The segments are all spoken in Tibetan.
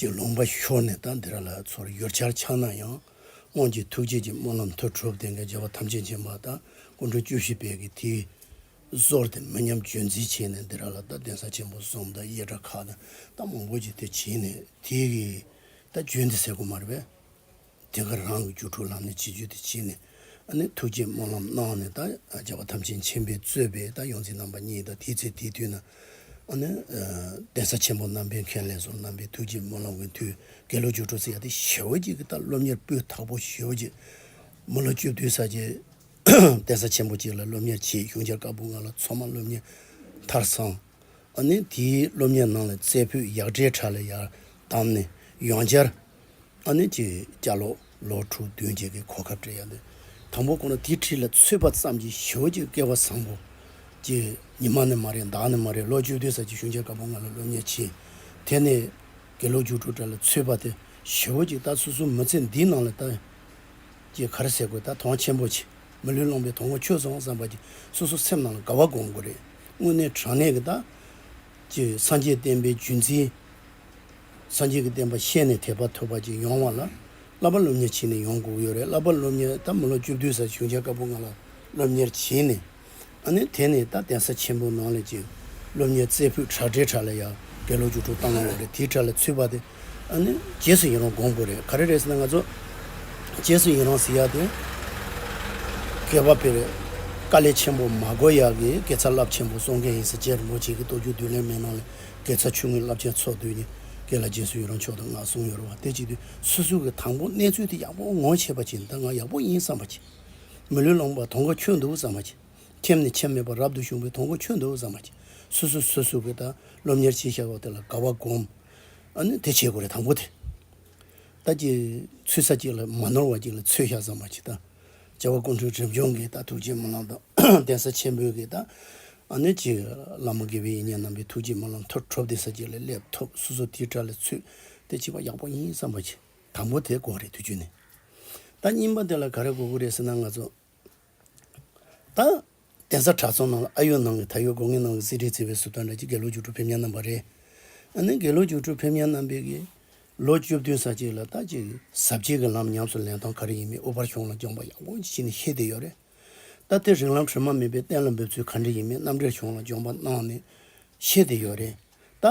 ཀྱི་ལུང་པ་ཤོར་ནས་ད་འདིར་ལ་ཚོར་ཡོད་ཆར་འཆང་ན་ཡང། སྔོན་གྱི་ཐུགས་རྗེ་ཀྱི་སྨོན་ལམ་མཐུ་གྲུབ་དེ་འགའི་རྒྱལ་བ་ཐམས་ཅད་མཁྱེན་པ་དང་སྐུ་མགྲོན་བཅུ་བཞི་བས་ཀྱི་དེའི་གཟོར་དེ་མི་ཉམས་བརྗོད་འཛིན་བྱས་ནས་འདིར་ལ་ད་གདན་ས་ཆེན་པོ་གསུམ་དང་གཡས་གྲ་ཁ་དང་རྟ་མང་པོ་ཀྱི་དེ་བྱིན་ནས་དེའི་ད་བརྗོད་འདི་ཟེར་དགོས་མ་རེད་པས། དེ་གར་རང་གི་སྒྱུ་འཕྲུལ་ལམ་ནས་བྱིས་བརྗོད་དེ་བྱིན་ནས། ཐུགས་བསྐྱེད་སྨོན་ལམ་གནང་ནས་ད་རྒྱལ་བ་ཐམས་ཅད་མཁྱེན་པའི་རྩོད་པས་ད་ཡོངས་འཛིན་རྣམ་པ་གཉིས་དང་དེའི་ཚེ་དེའི་དུས་ན། གདན་ས་ཆེན་པོ་རྣམ་པའི་མཁན་ལས་སོགས་རྣམ་པའི་ཐུགས་བསྐྱེད་སྨོན་ལམ་གྱི་དུས་དགེ་སློབ་སྒྱུ་འཕྲུལ་ཚེ་ཡ་དེ་ཞལ་བོ་གཅིག་གིས་ད་སློབ་གཉེར་སྤུས་དག་པོ་ཞུས་པ་རྗེས། མི་ལོ་བཅུ་བདུན་ས་ཀྱི་གདན་ས་ཆེན་པོ་གཅིག་ལ་སློབ་གཉེར་བྱས་གཞུང་འཆར་དཀར་པོ་ལྔ་ལ་མཚོ་མ་སློབ་གཉེར་མཐར་སོང། དེའི་སློབ་གཉེར་ནང་ལ་རྩེ་ཕུད་ཡག་སྒྲའི་བྲག་ལ་ཡར་བསྡམས་ནས་ཡོངས་སྦྱར། ཨ་ནེ་ཀྱི་སྐྱ་ལོ་ལོ་དྲུག་བདུན་རྗེས་ཀྱི་གོ་སྐབས་བྲལ་ཡང་དེ་དང་པོ་ཁོ་ན་དེའི་ཁྲི་ལ་ཚུད་པ་ཙམ་གྱི་ཞོལ་གྱི་བསྐལ་བ་བཟང་པོ། ཀྱི་ཉི་མ་ནི་མ་རེད་མདའ་ནི་མ་རེད་ལོ་བཅུ་བདུན་ཟག་ཅིག་ཤུན་ཆད་དཀར་པོ་ང་ལ་བློ་ཉེས་ཕྱིན། དེ་ནས་དགེ་ལོ་བཅུ་དྲུག་བྲལ་ལ་ཚུད་པ་དེ་ཞོལ་གྱི་རྟ་ཚུལ་སྲུང་མི་ཚེ་འདིའི་ནང་ལ་རྟ། ཀྱི་གར་ཟེར་དགོས་ད་དོང་ཆེན་པོ་ཆེ། མི་ལུས་བླངས་པའི་དོང་ངོ་ཆོད་སོང་བསམ་པ་གྱིས་སོ་སོ་སེམས་ནང་ལ་དགའ་བ་སྒོམ་དགོས་རེད་དངོས་གནས་དྲང་གནས་ཀྱི་རྟ། ཀྱི་སངས་རྒྱས་བསྟན་པའི་བརྒྱུད་འཛིན། སངས་རྒྱས་ཀྱི་བསྟན་པ་ཤེས་ནས་དད་པ་ཐོབ་པ་ཅིག་ཡོང་བ་ལ་བསླབ་པ་སློབ་གཉེར་བྱེད་ནས་ཡོང་དགོས་ཀྱི་ཡོད་རེད་བསླབ་པ་སློབ་གཉེར་ད་མི་ལོ་བཅུ་བདུན་ཟེར་བྱུང་བྱ་དཀར་པོ་ང་ལ་སློབ་གཉེར་བྱིན་ནས་ཨ་ནི་དེ་ནས་ད་གདན་ས་ཆེན་པོ་ནང་ལས་ཀྱི་སློབ་གཉེར་རྩེ་ཕུད་བྲག་འདྲའི་བྲག་ལ་ཡ་གེ་ལོ་བཅུ་དྲུག་བཏང་ཡོད་རེད་དེའི་བྲག་ལ་ཚུད་པ་དེ་ཨ་ནི་རྗེས་སུ་ཡིན་རུང་དགོངས་དགོས་རེད་ག་རེ་རེད་ཟེར་ན་ང་ཚོ་རྗེས་སུ་ཡིན་རུང་ཟེར་ཡག་དེ་གས་པ་ཕེར་རེད་དཀའ་ལས་ཆེན་པོ་མ་གོ་ཡག་གི་སྐད་ཚ་རླབས་ཆེན་པོ་གསུང་མཁན་ཡིན་ཟེར་རྗེས་རིན་པོ་ཆེ་གི་གཏོ་རྒྱུགས་བསྡུ་ལེན་མེད་ནང་ལས་སྐད་ཚགས་ཆུང་ངུའི་རླབས་ཆེན་ཚོགས་འདུས་ནི་སྐད་ལ་རྗེས་སུ་ཡི་རང་ཕྱོགས་དང་ངག་བཟུང་ཡོད་རུང་བ་སྟེ་གཅིག་དུས་སུ་སུ་གི་དང་པོ་གནས་ཚུལ་དེ་ཡག་པོ་ངོ་ཆེས་པ་གྱིས་འདི་ང་ཡག་པོ་ཡིན་བསམ་པ་གྱིས། མི་ལུས་ལོངས་པ་དོང་ག་ཁྱོད་འདུག་བསམ་པ་གྱིས། ཁྱིམ་ནས་ཁྱིམ་མེད་པར་རབ་ཏུ་བཞུགས་པའི་དོང་ག་ཁྱོད་འདུག་བསམ་པ་གྱིས་སུ་སུ་སུ་སུ་གི་ད་སློབ་གཉེར་བྱེད་ཤག་དེ་ལ་དགའ་བ་བསྒོམ། ཨཱ་དེ་བྱེད་དགོས་རེད་དང་པོ་དེ། ད་ཀྱི་ཚུལ་ས་ཀྱི་ལ་མ་ནོར་བ་ཀྱི་ལ་ཚོད་ཤག་བསམ་པ་གྱིས་ད། བྱ་བ་ཀུན་འཁྲུལ་དྲི་འབྱུང་གི་རྟགས་ཐུགས་རྗེའི་སྨོན་ལམ་དང་གདན་ས་ཆེན་པོའི་གི་རྟགས། ཨ་ནུ་གཅིག། བླ་མ་དགེ་བའི་ཡིད་བརྙན་རྣམ་པའི་ཐུགས་རྗེའི་སྨོན་ལམ་མཐར་ཐྲོབ་གདན་ས་གཅིག་ལས་སླེབས་ཐོབ་སོ་སོ་དེའི་དྲ་ལས་ཚུད་དེ་བྱེད་པ་ཡག་པོ་ཡིན་བསམ་པ་གྱིས་དང་པོ་དེ་གོ་རེད་དུས་རྒྱུན་ནས་ད་སྙིང་པ་དེ་ལ་ག་རེ་གོ་དགོས་རེད་ཟེར་ན་ང་ཚོ་ད། གདན་ས་བྲག་རྫོང་ནང་ལ་ཨ་ཡོད་ནང་གི་ད་ཡོད་སྒོ་ངའི་ནང་གི་གསེར་ཁྲིའི་རྩེ་བའི་ཟུར་དང་འདྲ་གཅིག་དགེ་ལོ་རྒྱུགས་སྤྲོད་ཕེབས་ཉལ་གནང་བ་རེད། ཨ་ནི་དགེ་ལོ་རྒྱུགས་སྤྲོད་ཕེབས་ཉལ་གནང་བས་དགེ་ལོ་བཅུ་བདུན་ཟ་གཅིག་ལ་རྟ་གཅིག་གིས་ཟ་གཅིག་གི་ལམ་ཉམས་སུ་ལེན་སྟངས་ག་རེ་ཡིན་མིན་ཨུ་པར་གཞུང་ལ་སྦྱངས་པ་ཡང་ཀུན་གྱིས་ཤེས་ནི་ཤེས་བསྡད་ཡོད་རེད། ད་ཐེངས་རིགས་ལམ་དྲི་མ་མེད་པའི་གཏན་ལ་འབེབས་ཚུལ་ག་འདྲ་ཡིན་མིན་རྣམ་འགྲེལ་གཞུང་ལ་སྦྱོངས་པ་གནང་ནི་ཤེས་བསྡད་ཡོད་རེད། རྟ་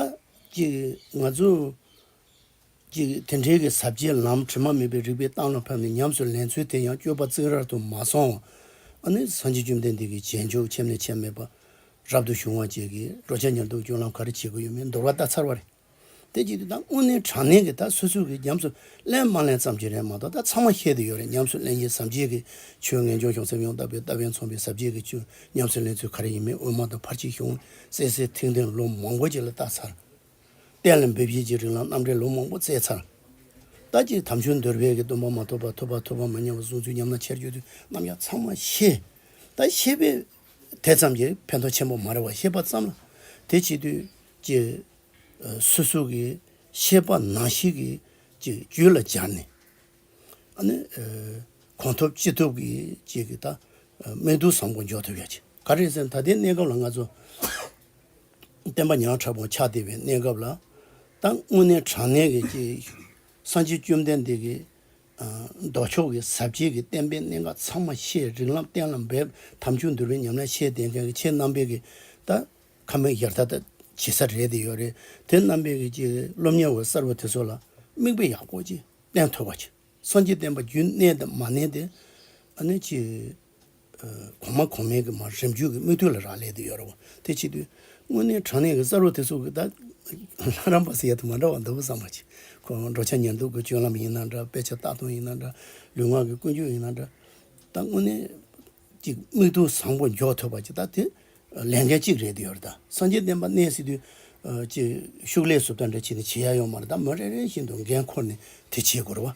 གཅིག་གིས་ང་ཚོ། གཅིག་དེ་འབྲེལ་གྱི་ཟབ་ཆའི་ལམ་དྲི་མ་མེད་པའི་རིག་པའི་གཏམ་ལ་ཕབ་ནས་ཉམས་སུ་ལེན་ཚུལ་དེ་ཡང་སྤྱོད་པ་རྩིག་རར་དུ་མ་སོང་བ་ནི་སངས་རྒྱས་བཅོམ་ལྡན་འདས་ཀྱི་རྗེས་འཇུག་ཁྱིམ་ནས་ཁྱིམ་མེད་པར་རབ་ཏུ་བྱུང་བ་བཅས་ཀྱིས་འགྲོ་བྱ་ཉེར་བསྡོགས་སྤྱོད་ལམ་ག་རེ་བྱེད་དགོས་ཡོད་མེད་འདོར་བ་ལྟ་ཚར་བ་རེད། དེ་གཅིག་དང་དངོས་གནས་དྲང་གནས་ཀྱི་ད་སོ་སོས་ཀྱིས་ཉམས་སུ་ལེན་མ་ལེན་ཙམ་གྱི་རེད་མ་གཏོགས་ད་ཚང་མ་ཤེས་དེ་ཡོད་རེད་ཉམས་སུ་ལེན་གྱི་ཟབ་ཆའི་གི་ཆོས་ངེས་འབྱུང་གཞུང་སེམས་ཡང་དག་པའི་ལྟ་བས་མཚོན་པའི་ཟབ་ཆའི་གི་ཆོས་ཉམས་སུ་ལེན་ཚུལ་ག་རེ་ཡིན་མིན་དབུ་མ་དང་ཕར་ཕྱིན་གཞུང་གསལ་གསལ་ཐིང་ཐིང་ལོ་མང་པོ་ཅིག་ལ་ལྟ་ཚར། གཏན་ལ་འབེབས་བྱེད་ཀྱི་རིང་ལ་རྣམ་འགྲེལ་ལུང་མང་པོ་བསྩལ་ཚར། ལྟ་ཅི་དམ་ཆོས་འདོད་རྦད་ཀྱི་སྟོན་པ་མ་ཐོབ་པ་ཐོབ་པ་ཐོབ་པ་མ་ཉམས་པ་གསུངས་ཚུལ་ཉམས་ན་ཆེར་བརྗོད་དུས་རྣམ་གཞག་ཚང་མ་ཤེས། ད་ཤེས་པས་དེ་ཙམ་གྱིས་ཕན་ཐོགས་ཆེན་པོ་མ་རེད་བ་ཤེས་པ་ཙམ་ལ་དེ་བྱེད་དུས་ཀྱི། སོ་སོ་གི་ཤེས་པ་ནང་ཞིག་གི་ཅིག་རྒྱུད་ལ་སྦྱར་ནས། ཨ་ནི། གོང་ཐོབ་ཅི་ཐོབ་ཀྱི་ཅིག་གི་ད་སྨད་དུ་བཟང་པོ་འཇོག་ཐུབ་ཡག་ཅིག་ག་རེད་ཟེར་ན་ད་ལྟའི་གནས་སྐབས་ལ་ང་ཚོ། བསྟན་པ་ཉག་ཕྲ་པོ་ཆགས་བསྡད་པའི་གནས་སྐབས་ལ་ད་དངོས་གནས་དྲང་གནས་ཀྱི་སྐྱེས་གསང་ཆེན་བཅོམ་ལྡན་འདས་ཀྱི་མདོ་ཕྱོགས་ཀྱི་ཟབ་རྒྱས་ཀྱི་བསྟན་པའི་གནད་འགག་ཚང་མ་ཤེས་རིག་ལམ་བསྟན་ལ་འབད་དམ་ཆུ་འདུལ་བའི་ཉམས་ལེན་ཤེས་ལྡན་མཁན་གྱི་ཆེས་རྣམ་པས་ཀྱི་ད་ཁ་མིག་ཡར་ལྟ་བྱེད་ས་རེད་དེ་ཡོད་རེད་དེ་རྣམ་པས་ཀྱི་ཀྱི་སློབ་གཉེར་བ་གསར་བ་དེ་ཚོ་ལ་མིག་དཔེ་ཡག་པོ་ཅིག་བསྟན་ཐོས་པ་ཅིག་སངས་རྒྱས་བསྟན་པ་རྒྱུན་གནས་དེ་མ་གནས་དེ་ཨ་ནི་ཀྱི། གོང་མ་གོང་མའི་གི་མ་རིམ་བརྒྱུད་ཀྱི་སྨོས་དུས་ལ་རག་ལས་དུ་ཡོད་རོ། དེ་ཕྱི་དུས། དངོས་གནས་དྲང་གནས་ཀྱི་ས་རུ་དེ་ཚོ་གི་དག། ལྷ་རམས་པ་སི་ཡ་དུ་མ་འདྲ་བ་འདུག་གི་བསམ་པ་གྱིས། ཁོང་འགྲོ་འཆག་ཉལ་འདུག་གི་སྤྱོད་ལམ་ཡིན་ན་འདྲ་དཔེ་ཆ་བལྟ་སྟངས་ཡིན་ན་འདྲ་ལུས་ངག་གི་ཀུན་སྤྱོད་ཡིན་ན་འདྲ། ད་དངོས་གནས། ཀྱི་སྨོས་དུས་བཟང་པོ་འཇོག་ཐུབ་པ་གྱི་ད་དེ། ལས་འགན་གཅིག་རེད་དུ་ཡོད་རེད་ད་སངས་རྒྱས་བསྟན་པ་གནས་སི་དུས། ཀྱི་ཤུགས་ལས་སུ་ད་འདྲ་བྱས་ནས་བྱེད་ཡ་ཡོང་མ་རེད་ད་མི་རེ་རེ་བཞིན་དུ་འགན་འཁོར་ནས་དེ་བྱེད་དགོས་རོ།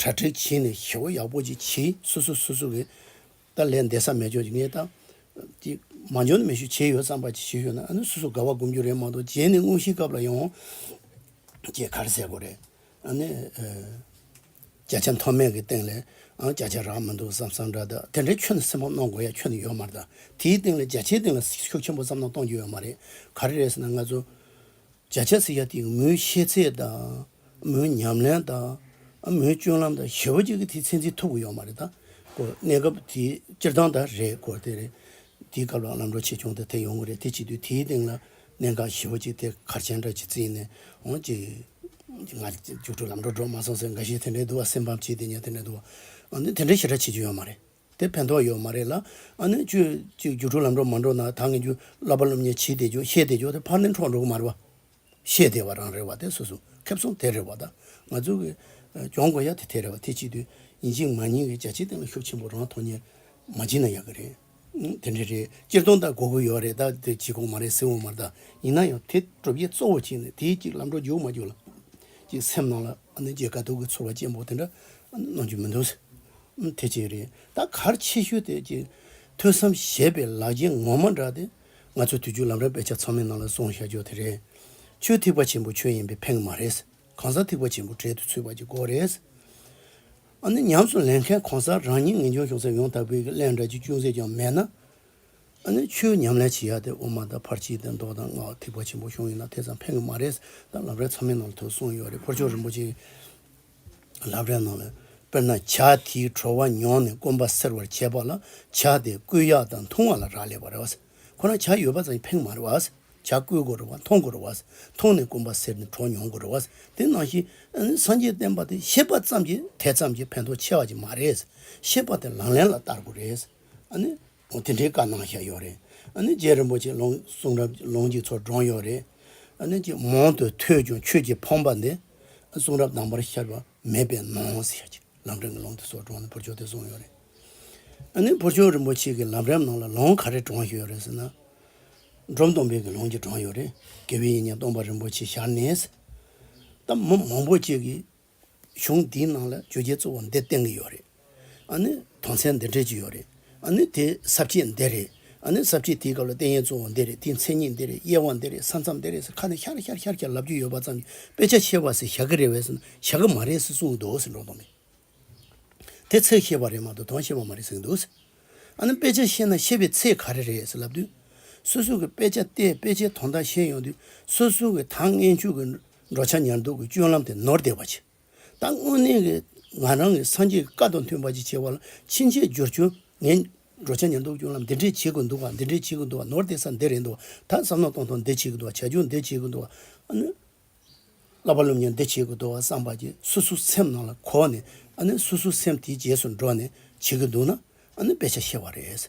དྲ་སྦྲེལ་བྱས་ནས་ཞི་བ་ཡག་པོ་ཅིག་བྱས་སོ་སོ་སོ་སོ་གི་ཏཱ་ལའི་འདས་ས་མེད་སྦྱོར་གྱི་ངས་ཏང་གི་མ་འཇོན་མེད་ཤོས་བྱས་ཡོད་བསམ་པ་ཅིག་ཞིག་ཡོད་ན་ཨ་ནུ་སོ་སོ་དགའ་བ་སྒོམ་རྒྱུ་རེད་མ་གཏོགས་རྗེས་ནས་དངོས་གཞིའི་སྐབས་ལ་ཡོང་རྗེས་གར་ཟེར་དགོས་རེད་ཨ་ནི། བརྒྱ་ཆ་མཐོ་དམན་གྱི་སྟེང་ལས་ཨང་བརྒྱ་ཆ་རག་མི་འདུག་བསམ་བསམ་འདྲ་འདུག་དེ་འདྲའི་ཁྱོད་ནས་སེམས་ཕམ་གནང་དགོས་ཡ་ཁྱོད་ནས་ཡོད་མ་རེད་ད་དེའི་སྟེང་ལས་བརྒྱ་ཆའི་སྟེང་ལ་ཤུགས་ཆེན་པོ་བསམ་གནང་གཏོང་རྒྱུ་ཡོད་མ་རེད་ག་རེ་རེད་ཟེར་ན་ང་ཚོ་བརྒྱ་ཆ་སེ་བརྒྱ་དེ་མོའི་ཤེས་ཚད་དང། མོའི་ཉམས་ལེན་དང། མོའི་སྤྱོད་ལམ་དང་ཞེ་བོ་གཅིག་གི་དེ་ཚད་འཛིན་ཐུབ་ཀྱི་ཡོད་མ་རེད་དཱ། གོ། གནས་སྐབས་དེ་སྤྱིར་བཏང་དང་རེད་གོ། དེ་རེད། དེའི་སྐབས་ལ་ལམ་འགྲོ་ཆེ་ཆུང་དེ་དེ་ཡོང་གི་རེད་དེ་བྱེད་དུས་དེའི་སྟེང་ལ་གནད་འགག་ཞེ་བོ་གཅིག་དེ་གར་ཆེན་འདྲ་གཅིག་བརྩིས་ནས་འོང་གཅིག། ང་རྒྱུགས་སྤྲོད་ལམ་འགྲོ་འགྲོ་མ་སོང་ཟེར་འགའ་ཞིག་དེ་འདྲའི་འདུག་བ་སེམས་ཕམ་བྱེད་དེ་ཉན་དེ་འདྲའི་འདུག་བ། དེ་འདྲའི་ཞེ་དྲག་བྱེད་རྒྱུ་ཡོད་མ་རེད། དེ་ཕན་ཐོགས་ཡོད་མ་རེད་ལ། ཨ་ནུས་ཁྱོད་ཅིག་རྒྱུགས་འཕྲོ་ལམ་འགྲོ་མ་འགྲོ་ན་ད་ངས་རྒྱུ་བསླབ་པ་སློབ་ཉེས་ཇི་སྟེ་འཇོག་ཤེས་དེ་འཇོག་དེ་ཕར་ལན་འཕྲོག་འགྲོ་གི་མ་རེད་བ། ཤེས་དེ་བ་རང་རེད་བ་དེ་སོ་སོ་ཁེབས་སོང་དེ་རེད་བ་ད་ང་ཚོ་གི་གྱོང་དགོས་ཡ་དེ་དེ་རེད་བ་དེ་གཅིག་དུས་ཡིན་གཅིག་མ་ཡིན་གི་རྒྱ་ཆེའི་སྟེང་ལ་ཤུགས་ཆེན་པོ་རང་ཐོག་ཉེར་མ་བྱིན་ན་ཡག་གི་རེད། དེ་འདྲ་རེད་སྤྱིར་བཏང་ད་དགོས་དགོས་ཡོད་རེད་ད་དེ་བྱེད་དགོས་མ་རེད་སྲིད་འོང་མ་རེད་ད་ཡིན་ན་ཡང་དེ་གྲུབ་རྗེས་གཙོ་བོ་གཅིག་ནི་དེའི་གཅིག་ལམ་འགྲོ་རྒྱུགས་མ་རྒྱུགས་ལ་གཅིག་སེམས་ནང་ལ་ཨ་ནུ་རྗེས་དགའ་སྡུག་གི་ཚོར་བ་ཅན་པོ་དེ་འདྲ་གནང་རྒྱུ་མི་འདུག། དེ་ཅི་རེད་ད་གར་ཆེ་ཤོས་དེ་ཅི་ཐོས་སམ་བཞད་པའི་ལག་རྗེས་ངོ་མ་འདྲ་སྟེ། ང་ཚོས་དུས་རྒྱུན་ལམ་རིམ་དཔེ་ཆ་ཚང་མའི་ནང་ལ་སོང་ཤར་ཕྱོགས་དེ་རེད། ཆོས་ཐིགས་པ་ཆེན་པོ་ཁྱོད་ཡིན་པའི་ཕེང་མ་རེད། གང་ཟག་ཐིགས་པ་ཆེན་པོ་གྲལ་དུ་ཚུད་པ་གྱི་སྐོར་རེད། ཨ་ནི་ཉམས་སུ་ལེན་མཁན་གང་ཟག་རང་ཉིད་ངེས་འབྱུང་གཞུང་ཚབ་ཡོང་ཐབས་བོད་ཀྱི་གླེང་སྒྲ་གཅིག་ཅུང་ཟད་ཀྱང་མེད་ན། ཨ་ནི་ཆོས་ཉམས་ལེན་བྱེད་ཡག་དེ་དབུ་མ་དང་ཕར་ཕྱིན་དང་མདོ་དང་སྔགས་ཐིགས་པ་ཆེན་པོ་གཞུང་ཡིན་ན་དེ་ཙམ་ཕེང་གི་མ་རེད། ད་ལམ་རིམ་ཚང་མའི་ནང་ལ་ཐོས་སོང་ཡོད་རེད་འཕུར་ཆོག་རིན་པོ་ཆེ། ལབ་རའི་ནང་ལ་དཔེར་ན་བྱ་དེའི་བྲོ་བ་མྱོང་ནས་སྐོམ་པ་སེལ་བར་བྱེད་པ་ལ་བྱ་དེ་བསྐུས་ཡག་དང་འཐུང་བ་ལ་རག་ལས་པ་རེད་བ། ཁོ་ན་བྱ་ཡོད་པ་ཙམ་གྱིས་ཕན་མ་རེད་བ། བྱ་བསྐུས་དགོས་རེད་བ་འཐུང་དགོས་རེད་བ། འཐུང་ནས་སྐོམ་པ་སེལ་ནས་བྲོ་མྱོང་དགོས་རེད་བ། དེ་ནང་བཞིན་སངས་རྒྱས་བསྟན་པ་དེ་ཤེས་པ་ཙམ་གྱིས་དེ་ཙམ་གྱིས་ཕན་ཐོགས་ཆེ་བ་ཅིག་མ་རེད། ཤེས་པ་དེ་ལག་ལེན་ལ་བསྟར་དགོས་རེད། འོ་དེ་འདྲའི་བཀའ་གནང་བཞག་ཡོད་རེད། ཨ་ནི་རྗེ་རིན་པོ་ཆེ་ལོང་གསུང་རབ་ཀྱི་ལོང་འཇིགས་ཚོགས་བགྲོངས་ཡོད་རེད། ཨ་ནི་ཅིག་མོང་དུ་ཐོས་ཀྱང་ཆོས་ཀྱི་ཕོངས་པ་འདི་གསུང་རབ་དང་པོར་ཤར་བ་མེད་པས་ནོངས་ཟེར་བཞག་ཅིག་ལམ་འབྲིང་གི་ལོང་དེ་ཚོགས་བགྲོངས་ནས་བུར་ཆོག་དེ་གསུངས་ཡོད་རེད། ཨ་ནི་བུར་ཆོག་རིན་པོ་ཆེ་གི་ལམ་རིམ་ནང་ལ་ལོང་ག་རེ་བགྲོངས་བཞག་ཡོད་རེད་ཟེར་ན། འབྲོམ་སྟོང་དཔལ་གྱི་ལོང་གཅིག་བགྲོངས་ཡོད་རེད་དགེ་བའི་བཤེས་གཉེན་སྟོང་པ་རིན་པོ་ཆེ་ཞར་ནས་ཟེར། ད་མི་མང་པོ་གཅིག་གིས་གཞུང་འདིའི་ནང་ལ་བརྗོད་བྱའི་གཙོ་བོ་འདི་བསྟན་གྱི་ཡོད་རེད། ཨ་ནི་དོན་ཚན་འདི་འགྲེལ་གྱི་ཡོད་རེད། ཨ་ནི་དེའི་གསབ་བྱེད་འདི་རེད། ཨ་ནི་གསབ་བྱེད་དེའི་སྐབས་ལ་བསྟན་ཡས་གཙོ་བོ་འདི་རེད་དེའི་མཚན་ཉིད་འདི་རེད་དབྱེ་བ་འདི་རེད་ས་མཚམས་འདི་རེད་ཟེར་ཁ་ནས་ཤར་ཤར་ཤར་ཤར་ལབ་ཀྱི་ཡོད་པ་ཙམ་གྱིས་དཔེ་ཆ་ཤེས་པ་ཟེར་ཞག་གི་རེད་བས་ཟེར་ན་ཞག་གི་མ་རེད་ཟེར་གསུངས་འདུག་ཟེར་འགྲོ་འདོད་མེད། དེ་ཚེགས་ཤེས་པ་རེད་མ་གཏོགས་དོན་ཤེས་པ་མ་རེད་ཟེར་གྱི་འདུག་ཟེར། ཨ་ནི་དཔེ་ཆ་ཤེས་ན་ཤེས་པའི་ཚེགས་ག་རེ་རེད་ཟེར་ལབ་དུས། སོ་སོ་གིས་དཔེ་ཆ་བལྟས་དཔེ་ཆའི་དོན་དག་ཤེས་ཡོང་དུས་སོ་སོ་གིས་ད་ངས་མཇུག་གི། འགྲོ་བྱ་ཉར་འདུག་གི་སྤྱོད་ལམ་དེ་ནོར་བདེ་བ་ཆེ། ད་དངོས་གནས་ཀྱི་ང་རང་གིས་སངས་རྒྱས་ཀྱི་བཀའ་དང་མཐུན་པ་ཅིག་བྱེད་པ་ལ་ཕྱིན་ཆད་སྦྱོར་བྱུང་ངས། འགྲོ་བྱ་ཉར་འདུག་གི་སྤྱོད་ལམ་འདི་འདྲས་བྱེད་དགོས་འདུག་བ་འདི་འདྲས་བྱེད་དགོས་འདུག་བ་ནོར་བདེ་ས་འདི་རེད་འདུག་བ་ད་བསམ་ན་གཏོང་ཐོང་འདི་བྱེད་དགོས་འདུག་བ་བྱ་ཁྱུང་འདི་བྱེད་དགོས་འདུག་བ། བསླབ་པ་སློབ་གཉེར་འདི་བྱེད་དགོས་འདུག་བ་བསམ་པ་གྱིས་སོ་སོའི་སེམས་ནང་ལ་གོ་ནས། སོ་སོའི་སེམས་དེའི་རྗེས་སུ་འགྲོ་ནས་བྱེད་ཀྱི་འདུག་ན། དཔེ་ཆ་ཤེས་བ་རེད།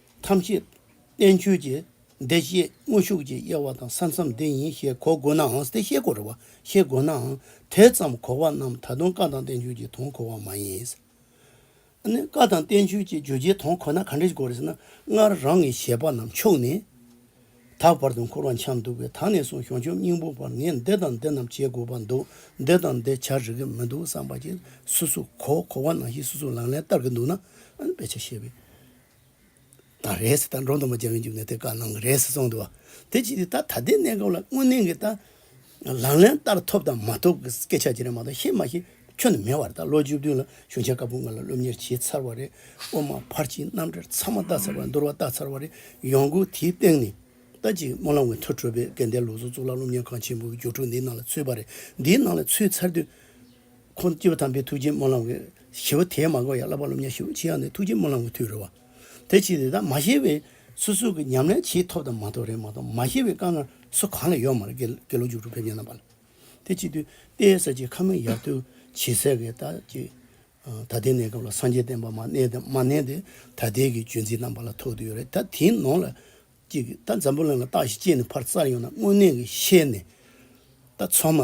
ཐམས་ཅད་བསྟན་བཅོས་ཀྱི་བདེ་བསྐྱེད་དངོས་ཤུགས་ཀྱི་དབྱེ་བ་དང་ས་མཚམས་འདི་ཡིན་ཞེས་གོ་དགོས་ནའང་དེ་བཤད་དགོས་རེ་བ་ཤེས་དགོས་ནའང་དེ་ཙམ་གོ་བ་རྣམས་ད་དུང་བཀའ་དང་བསྟན་བཅོས་ཀྱི་དོན་གོ་བ་མ་ཡིན། ཨ་ནི་བཀའ་དང་བསྟན་བཅོས་ཀྱི་བརྗོད་བྱའི་དོན་གོ་ན་ག་འདྲས་གོ་རེ་ཟེར་ན་སྔར་རང་གི་བཞེད་པ་རྣམས་ཕྱོགས་ནས་དག་བར་དུ་འཁོར་བ་འཁྱམས་འདུག་པས་ད་ནས་བཟུང་གཞུང་ཆོས་སྙིང་པོ་བར་ངས་འདི་དང་འདི་རྣམས་བྱེད་དགོས་པ་འདུག་འདི་དང་འདི་བྱ་རིག་གི་མི་འདུག་བསམ་པ་གྱིས་སུ་སུ་གོ་གོ་བ་ནང་བཞིན་སུ་སུ་ལང་ལན་བསྟར་གྱི་འདུག་ན་ཨ་ནི་དཔེ་ཆ་ཤེས་པའི། ན་རེས་ད་འབྲོག་དང་པོ་རྒྱལ་བའི་མཇུག་ནས་དེ་བཀའ་གནང་གི་རེད་ཟེར་གསུངས་འདུག་བ་དེ་ཅི་སྟེ་ད་ད་ལྟའི་གནས་སྐབས་ལ་དངོས་གནས་ཀྱི་ད་ལག་ལེན་བསྟར་ཐོབ་དང་མ་ཐོབ་ཀྱི་སྐད་ཆ་དེ་རིགས་མ་གཏོགས་ཤེས་མ་ཤེས་ཁྱོན་ནས་མེད་བར་ད་ལོ་བཅུ་བདུན་ལ་གཞུང་ཆེན་དཀར་པོ་ང་ལ་སློབ་གཉེར་བྱས་ཚར་བ་རེད་དབུ་མ་ཕར་ཕྱིན་རྣམ་གྲྭར་ཚང་མ་བལྟ་ཚར་བ་འདུར་བ་བལྟ་ཚར་བ་རེད་ཡོང་སྒོ་དེའི་སྟེང་ནས་ད་ཅིག་སྨོན་ལམ་ཝན་ཐུ་བྲོས་པའི་སྐལ་ལྡན་ལུགས་གཟུགས་གཙུག་ལག་སློབ་གཉེར་ཁང་ཆེན་པོའི་སྒྱུ་འཕྲུལ་འདིའི་ནང་ལ་ཚུད་པ་རེད་འདིའི་ནང་ལ་ཚུད་ཚར་དུས་ཁོང་དུ་སྐྱེས་པ་དམ་པའི་ཐུགས་རྗེའི་སྨོན་ལམ་གྱིས་ཞི་བ་དེའི་མ་གོ་ཡང་བསླབ་པ་སློབ་གཉེར་ཞུ་ཅི་ཡང་ནི་ཐུགས་རྗེའི་སྨོན་ལམ་གྱི་མཐུས་རོལ་བ། དེ་ཕྱིར་དེ་དག་མ་ཤེས་པའི་སོ་སོ་གི་ཉམས་ལེན་ཆེས་ཐོབ་དང་མ་ཐོབ་རེད་མ་གཏོགས་མ་ཤེས་པའི་དཀའ་ངལ་སུ་གང་ལ་ཡོད་མ་རེད་དགེ་ལུགས་རྒྱུགས་སྤྲོད་ཕེབས་ཉེ་ན་པ་ལ་དེ་གཅིག་དུས་དཔེའི་ས་ཆའི་ཁ་མིག་ཡར་ཐོན་བྱེད་ཟེར་གི་ད་ཅི། ད་ལྟའི་གནས་སྐབས་ལ་སངས་རྒྱས་བསྟན་པ་མ་གནས་དང་མ་གནས་དེ་ད་ལྟའི་གི་བརྗོད་འཛིན་དང་པ་ལ་ཐོག་དུ་ཡོད་རེད་ད་དེའི་ནང་ལ་གཅིག་གིས་ད་འཛམ་བུ་གླིང་ལ་རྟགས་ཤིག་སྐྱེས་ནས་ཕར་བཙར་ཡོང་ན་དངོས་གནས་ཀྱི་ཤེས་ནས་ད་ཚང་མ་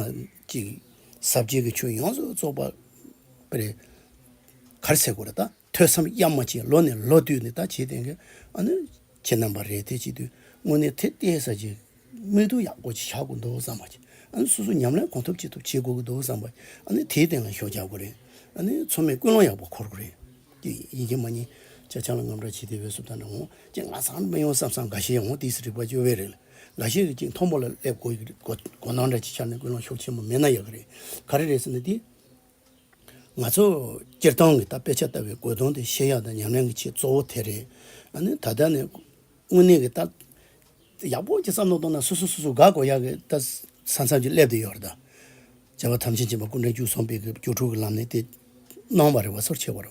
གཅིག་གཟབ་རྒྱས་ཀྱི་ཆུ་ཡོངས་སུ་རྫོགས་པ་པརེ་གར་ཟེར་དགོས་རེད་ད་ཐོས་བསམ་གཡར་མ་བྱས་ལོ་ནས་ལོ་བསྟུད་ནས་ད་བྱས་དེ་གས་ཨ་ནུ་ཁྱེད་རྣམ་པ་རེད་དེ་བྱས་དུས་དངོས་གནས་དེ་ལྟའི་ས་ཆའི་མིག་དུ་ཡག་པོ་ཞིག་བཞག་དགོས་འདུག་བསམ་པ་ཞིག་ཨ་ནུ་སོ་སོ་ཉམས་ལེན་གང་ཐུབ་ཅི་ཐུབ་བྱེད་དགོས་ཀྱི་འདུག་བསམ་པ་ཞིག་ཨ་ནུ་དེའི་སྟེང་ལ་ཞོགས་རྒྱག་དགོས་རེད་ཨ་ནུ་ཚང་མས་ཀུན་སློང་ཡག་པོ་འཁོར་དགོས་རེད། ཀྱི་ཡིན་གྱི་མ་རྙེད། ཅེས་ཆང་ལ་རྔམ་སྒྲ་བྱེད་དེ་འོད་སྲུབས་དང་འདྲ་འོང། ཅེས་ང་ཚང་མི་ཡོང་བསམ་བསམ་འགའ་ཤས་འོང་དུས་སུ་རིག་པ་སྐྱོ་བས་རེད། འགའ་ཤས་རེ་གཅིག་མཐོང་སྤོ་ལ་སླེབས་དགོས་ཀྱི་རེད། དགོ་སྣང་འདྲ་གཅིག་འཆར་ནས་ཀུན་སློང་ཤོག་ཆེན་མོ་མེད་ན་ཡག་གི་རེད། ག་རེ་རེད་ཟེར་ན་དེ། ང་ཚོ་སྤྱིར་བཏང་གི་ད་དཔེ་ཆ་ལྟ་བའི་དགོས་དོན་དེ་ཤེས་ཡག་དང་ཉམས་ལེན་གྱི་ཆེད་གཙོ་བོ་དེ་རེད། ཨ་ནི་ད་ལྟ་ནས། དངོས་གནས་ཀྱི་ད། ཡག་པོ་གཅིག་བསམ་བློ་གཏོང་ན་སོ་སོ་སོ་སོ་དགའ་དགོས་ཡག་གི་ད། ས་མཚམས་ཀྱི་སླེབས་དུ་ཡོད་རེད་ད། བྱ་བ་ཐམས་ཅད་བྱེད་པ་ཀུན་དྲན་བཅུ་གསུམ་པའི་སྒོས་སྒྱུ་དྲུག་གི་ལམ་ནས་ཏེ། སྣང་བ་རེ་བ་སོར་ཕྱེ་བར།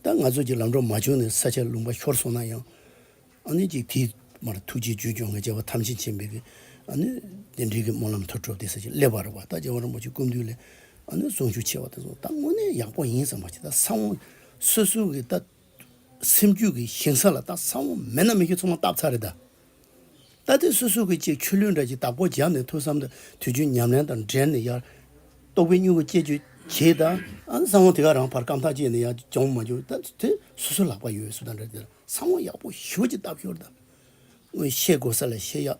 ད་ང་ཚོས་ཀྱི་ལམ་འགྲོ་མ་བྱུང་ནས་ས་ཆ་ལུང་པ་ཤོར་སོང་ན་ཡང། ཨ་ནི་ཀྱི་དེའི་མར་ཐུགས་རྗེའི་རྒྱུད་སྐྱོང་གི་བྱ་བ་ཐམས་ཅད་བྱེད་པའི་གི། ཨ་ནི། རྟེན་འབྲེལ་གྱི་སྨོན་ལམ་མཐུ་སྤྲོ་བདེ་ས་ཆེན་སླེབ་བར་རེ་བ་ད་རྗེ་བང་རིན་པོ་ཆེ་ཀུན་འདུས་ལས། ཨ་ནི་གཟུངས་ཆུ་ཆེ་བ་དེ་ཚོ་ད་དངོས་གནས་ཡག་པོ་ཡིན་བསམ་པ་ཞིག་ད་ས་བོན་སོ་སོའི་གི་ད། སེམས་རྒྱུད་ཀྱི་ཞིང་ས་ལ་རྟ་ཚ་བོ་མེད་ན་མི་ཁྱོད་ཚང་མ་རྟགས་ཚ་རེད་དཱ། རྟ་རྟེན་སོ་སོ་གི་ཅིག་ཆུ་ལུད་འདྲ་ཅིག་དྭགས་པོ་རྒྱབ་ནས་ཐུག་བསམ་དུ་དུས་རྒྱུན་ཉམས་ལེན་དང་འབྲེལ་ནས་ཡར། ལྟོགས་པའི་སྨྱུ་གུ་སྐྱེད་རྒྱུ་གྱིས་ད། བཟང་བོ་དེ་ག་རང་བར་སྐམ་ཐག་བཅད་ནས་ཡར་གྱོང་མ་རྒྱུག་ད། དེ་སོ་སོའི་ལག་པ་ཡོད་སུ་དང་འདྲ་དེ་ལ་བཟང་བོ་ཡག་པོ་ཞུ་གཅིག་ལྟ་ཕྱོར་ད། སྔོན་བཤད་དགོས་ས་ལ་བཤད་ཡག།